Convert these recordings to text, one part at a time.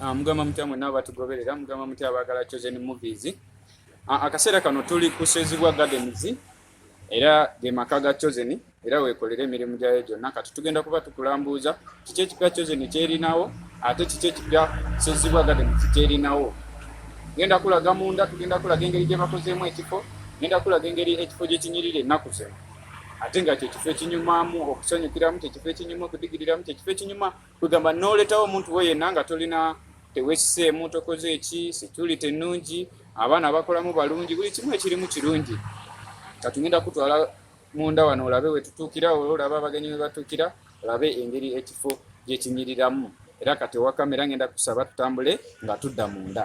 Ah, mugamba mutya mwenna abatugoberera mugamba mutya abaagala chosen movies ah, akaseera kano tuli kusezibwa gardens era ge maka ga chosen era weekolera emirimu gyayo gyonna kati tugenda kuba tukulambuuza kiki ekipya chosen kyerinawo ate kiki ekipya sezibwa gardens kyerinawo genda kulaga munda tugenda kulaga engeri gye bakozeemu ekifo genda kulaga engeri ekifo gye kinyirira ennaku zino ate nga kyekifo ekinyumamu okusanyukiramu kyekifo ekinyuma okudigiriramu kyekifo ekinyuma kwegamba noletawo omuntu we yenna nga tolina tewesiseemu tokoze eki security ennungi abaana bakolamu balungi buli kimu ekirimu kirungi katugenda kutwala munda wano olabe wetutuukira ola olaba abagenyi webatuukira olabe engeri ekifo gyekinyiriramu era kati ewakamera ngenda kusaba tutambule nga tudda munda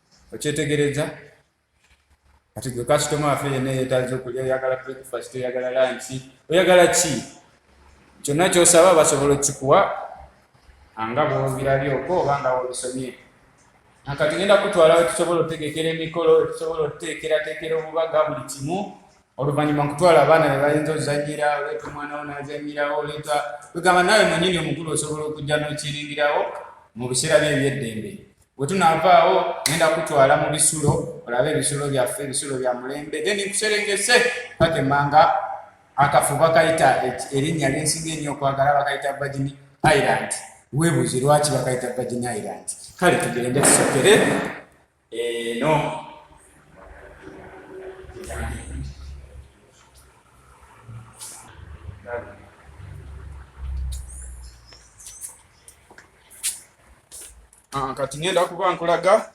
okyetegereza kati gwe kasitoma afe yena yetaza okulya oyagala breakfast oyagala lanki oyagala ki kyonna kyosaba basobola okukikuwa anga bwobirabyoko oba nga wobisomye nakati genda kutwala wetusobola otegekera emikolo wetusobola oteekerateekera obubaga buli kimu oluvannyuma nkutwala abaana be bayinza ozanyira oleeta omwana wo n'azanyirawo oleeta kwegamba naawe mwenyini omukulu osobola okujja n'okiringirawo mu biseera bye ebyeddembe bwe tunaavaawo ngenda kutwala mu bisulo olabe ebisulo byaffe ebisulo bya mulembe then nkuserengese kakemanga akafu bakayita erinnya lyensinga ennyo okwagala bakayita virgin island weebuuzi lwaki bakayita virgin island kale tugende tusokere Eno ah, kati ngenda kuba nkulaga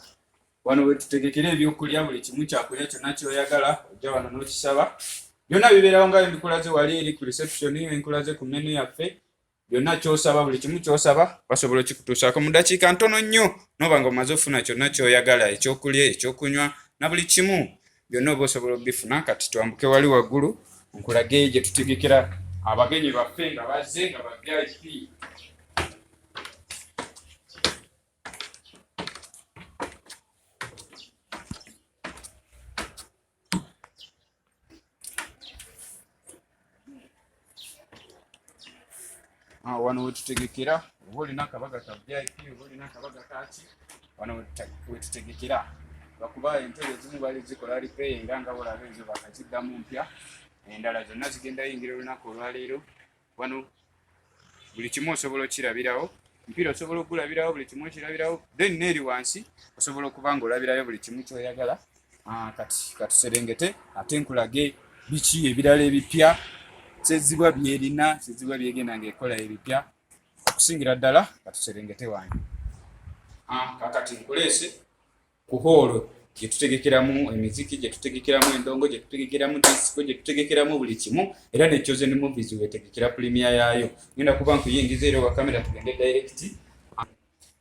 wano wetutegekera ebyokulya buli kimu kyakulya kyonna kyoyagala ojja wano n'okisaba byonna bibeerawo nga bye mbikulaze wali eri ku reception enkulaze ku menu yaffe byonna kyosaba buli kimu kyosaba basobola okikutuusaako mu dakiika ntono nnyo noba nga omaze ofuna kyonna kyoyagala ekyokulya ekyokunywa na buli kimu byonna oba osobola okubifuna kati twambuke wali waggulu nkulage gye tutegekera abagenyi baffe nga bazze nga ba vip Ah, wano wetutegekera oba olina akabaga ka vip oba olina akabaga kaki wano wetutegekera bakuba entebe ezimu bali zikola repair nga nga olaba ezo bakaziddamu mpya endala zonna zigenda yingira olunaku olwaleero wano buli kimu osobola okirabirawo mpiira osobola okugulabirawo buli kimu okirabirawo then neeri wansi osobola okuba nga olabirayo buli kimu kyoyagala ah, kati katuserengete ate nkulage biki ebirala ebipya kyezibwa byerina kyezibwa byegenda nga ekola ebipya okusingira ddala katuserengete wange ah, kakati nkuleese ku hoolo gye tutegekeramu emiziki gye tutegekeramu endongo gye tutegekeramu disiko gye tutegekeramu buli kimu era ne chosen movies wetegekera pulimia yaayo ngenda kuba nkuyingiza era owa kamera tugende direct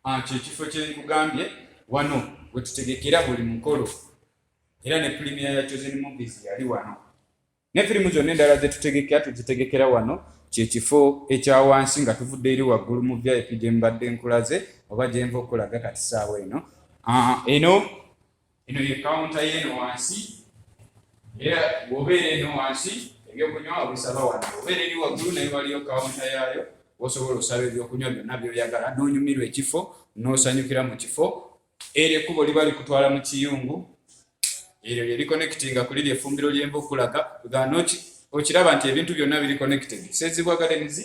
anti ah, ekifo kye nkugambye wano we tutegekera buli mukolo era ne pulimia ya chosen movies yali wano ne firimu zonna endala zetutegekera tuzitegekera wano kyekifo ekya wansi nga tuvudde eri waggulu mu vip gye mbadde nkulaze oba gyenva okulaga kati saawa eno ah, eno eno ye kawunta yeeno wansi era wobeera eno wansi ebyokunywa obisaba wano obeera eri waggulu naye waliyo kawunta yaayo osobola osaba ebyokunywa byonna byoyagala nonyumirwa ekifo nosanyukira mu kifo Eryo ekkubo liba likutwala mu kiyungu, eryo lye likonekitinga ku liri effumbiro ly'enva okulaga gano ki okiraba nti ebintu byonna biri connected sezibwa gardens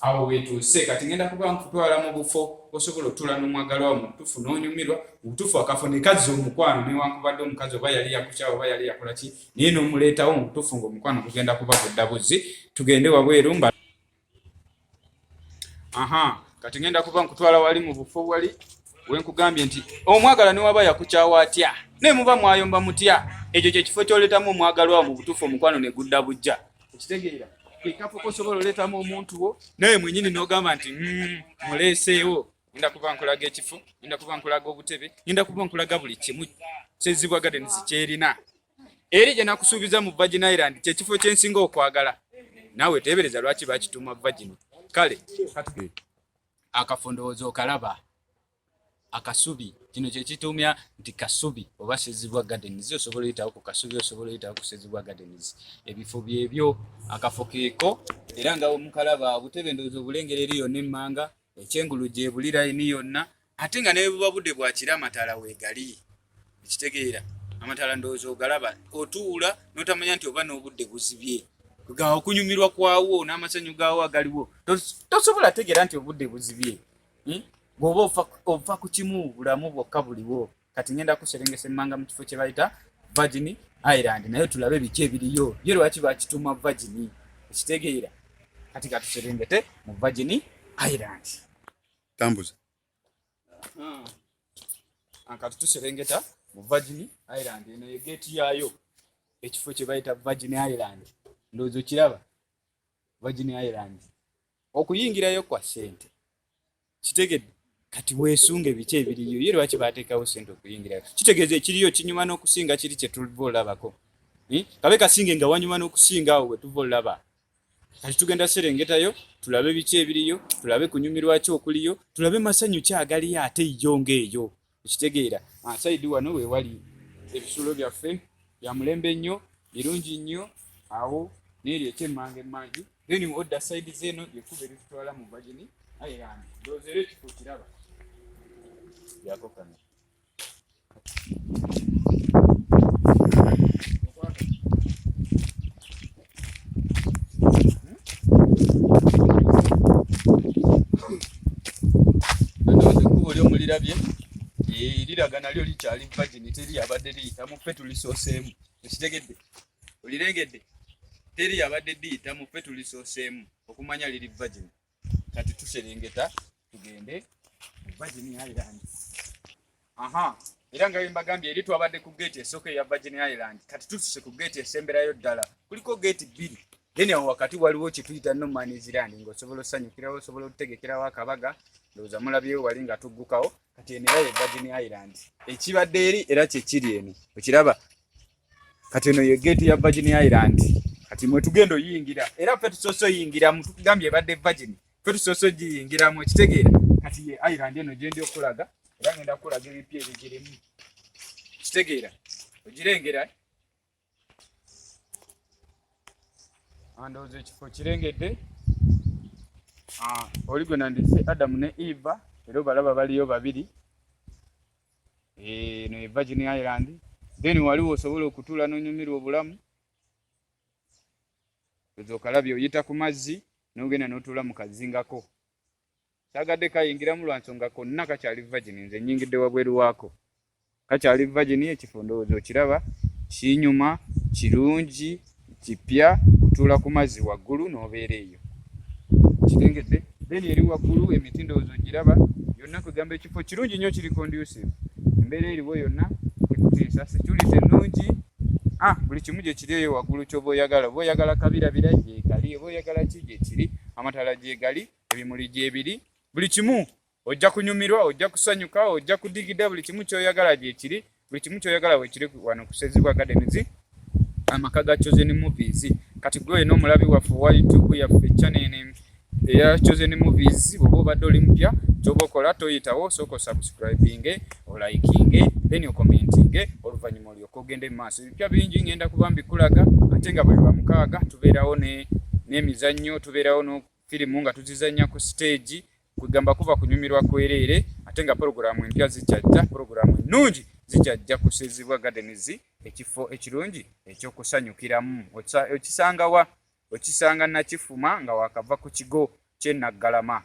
awo wetuuse kati ngenda kuba nkutwala mu bufo osobola otula n'omwagalwawo mu butufu n'onyumirwa mu butufu akafo nekazza omukwano newankubadde omukazi oba yali yakukyawa oba yali yakola ki naye n'omuleetawo mu butufu ng'omukwano gugenda kuba gudda buzzi tugende wabweru mba aha kati ngenda kuba nkutwala wali mu bufo wali wenkugambye nti omwagala newaba yakukyawa atya naye muba mwayomba mutya ekyo kyekifo kyoletamu omwagalwa mu butuufu omukwano negudda bujja okitegeera ekafo kosobola oletamu omuntu wo naye mwenyini nogamba nti mm, muleeseewo ngenda kuba nkulaga ekifo ngenda kuba nkulaga obutebe ngenda kuba nkulaga buli kimu kyezibwa gadeni zikyerina eri gye nakusuubiza mu Virgin Island kye kifo kye nsinga okwagala. Naawe teebereza lwaki bakituuma Virgin. Kale akafo ndowooza okalaba akasubi kino kye kituumya nti kasubi oba Ssezibwa Gardens osobola oyitawo ku kasubi osobola oyitawo ku Ssezibwa Gardens ebifo byebyo akafo keeko era nga omukalaba obutebe ndowooza obulengera eri yonna emmanga ekyengulu gyebuli layini yonna ate nga nebuba budde bwakira amataala wegali ekitegeera amataala ndowooza ogalaba otuula notamanya nti oba n'obudde buzibye okunyumirwa kwawo n'amasanyu gaawo agaliwo tosobola ategeera nti obudde buzibye hmm? bwoba ova ku kimu bulamu bwokka buliwo kati ngenda kuserengesa emmanga mu kifo kye bayita virgin island naye tulabe biki ebiriyo ye lwaki bakituuma virgin ekitegeera kati katuserengete mu virgin island tambuza ankati tuserengeta mu virgin island eno ye geeti yaayo ekifo kye bayita virgin island ndowooza okiraba virgin island okuyingirayo kwa sente kitegedde kati weesunge biki ebiriyo ye lwaki baateekawo sente okuyingirayo kitegeeza ekiriyo kinyuma n'okusinga kiri kye tuva olabako hm? kabe kasinge nga wanyuma n'okusinga awo wetuva olaba kati tugenda serengetayo tulabe biki ebiriyo tulabe kunyumirwa ki okuliyo tulabe masanyu ki agaliyo ate yo ng'eyo ekitegeera asaidi ah, wano wewali ebisulo byaffe bya mulembe nnyo birungi nnyo awo neeri ekyemmanga emmanju then odda saidi zeeno yekuba eritutwala mu vagini ayerani ndoozeero ekifo kiraba yakokana olirabye eh, liraga nalyo likyali vagini teri yabadde liyitamu ffe tulisooseemu ekitegedde olirengedde teri yabadde liyitamu ffe tulisooseemu okumanya liri vagini kati tuserengeta tugende Virgin Island. Aha, era nga mbagambye eri twabadde ku gate esooka eya Virgin Island, kati tutuse ku gate esemberayo ddala. Kuliko gate bbiri. Then awo wakati waliwo kye tuyita no man is land ng'osobola osanyukirawo, osobola otutegekerawo akabaga, ndowooza mulabyewo wali nga tuggukawo, kati eno era ye Virgin Island. Ekibadde eri era kye kiri eno. Okiraba? kati eno ye gate ya Virgin Island kati mwe tugenda oyingira era ffe tusoose oyingiramu tukugambye ebadde Virgin ffe tusoose ogiyingiramu ekitegeera kati ye Island eno gyendi okulaga era ngenda kukulaga ebipya ebigirimu kitegeera ogirengera andowooza ekifo kirengedde ah, oli gwe nandise adamu ne eva era obalaba baliyo babiri eno eh, e Virgin Island then waliwo osobola okutula nonyumirwa obulamu ezo kalabi oyita ku mazzi nogenda notula mu kazingako sagadde kayingiramu lwa nsonga konna kakyali virgin nze nyingidde wabweru waako kakyali virgin ekifo ndowooza okiraba kinyuma kirungi Kipya otuula ku mazzi waggulu n'obeera eyo. Kitengedde? Then eri waggulu emiti ndowooza ogiraba yonna kwegamba ekifo kirungi nnyo kiri conducive. Embeera eriwo yonna tekuteesa security nnungi. Ah, buli kimu gye kiri eyo waggulu ky'oba oyagala. Oba oyagala kabirabira gyekali, oba oyagala ki gyekiri, amataala gyegali, ebimuli gyebiri, buli kimu Ojja kunyumirwa, ojja kusanyuka, ojja kudigida buli kimu kyoyagala gyekiri, buli kimu kyoyagala wekiri wano kusezibwa gardens amaka ga chosen movies kati gwe no mulabi waffe wa youtube yaffe channel name eya chosen movies bobo badde oli mpya kyoba okola toyitawo soko subscribing olikinge then okomentinge oluvannyuma olyoka ogende mu maaso ebipya bingi ngenda kuba mbikulaga ate nga buli lwamukaaga tubeerawo n'emizannyo tubeerawo firimu nga tuzizannya ku siteegi kwegamba kuva kunyumirwa kwereere ate nga pologulaamu empya zikyajja pologulaamu ennungi zikyajja kusiizibwa gardens ekifo ekirungi ekyokusanyukiramu okisangawa okisanga nakifuma nga wakava ku kigo kyenaggalama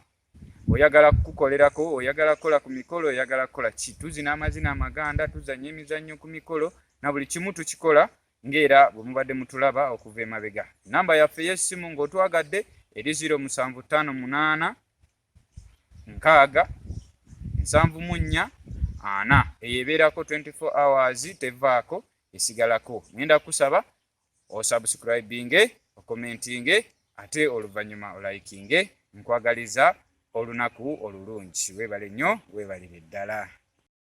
oyagala kukukolerako oyagala kukola ku mikolo oyagala kukola ki tuzina amazina amaganda tuzanya emizannyo ku mikolo na buli kimu tukikola Ng'era bwe mubadde mutulaba okuva emabega, nnamba yaffe ey'essimu ng'otwagadde eri ziro musanvu ttaano munaana nkaaga nsanvu mu nnya ana. Eyo ebeerako 24 hours tevaako esigalako. Ngenda kukusaba osubscribinge, okomentinge ate oluvannyuma olayikinge. Nkwagaliza olunaku olulungi. Weebale nnyo, weebalire ddala.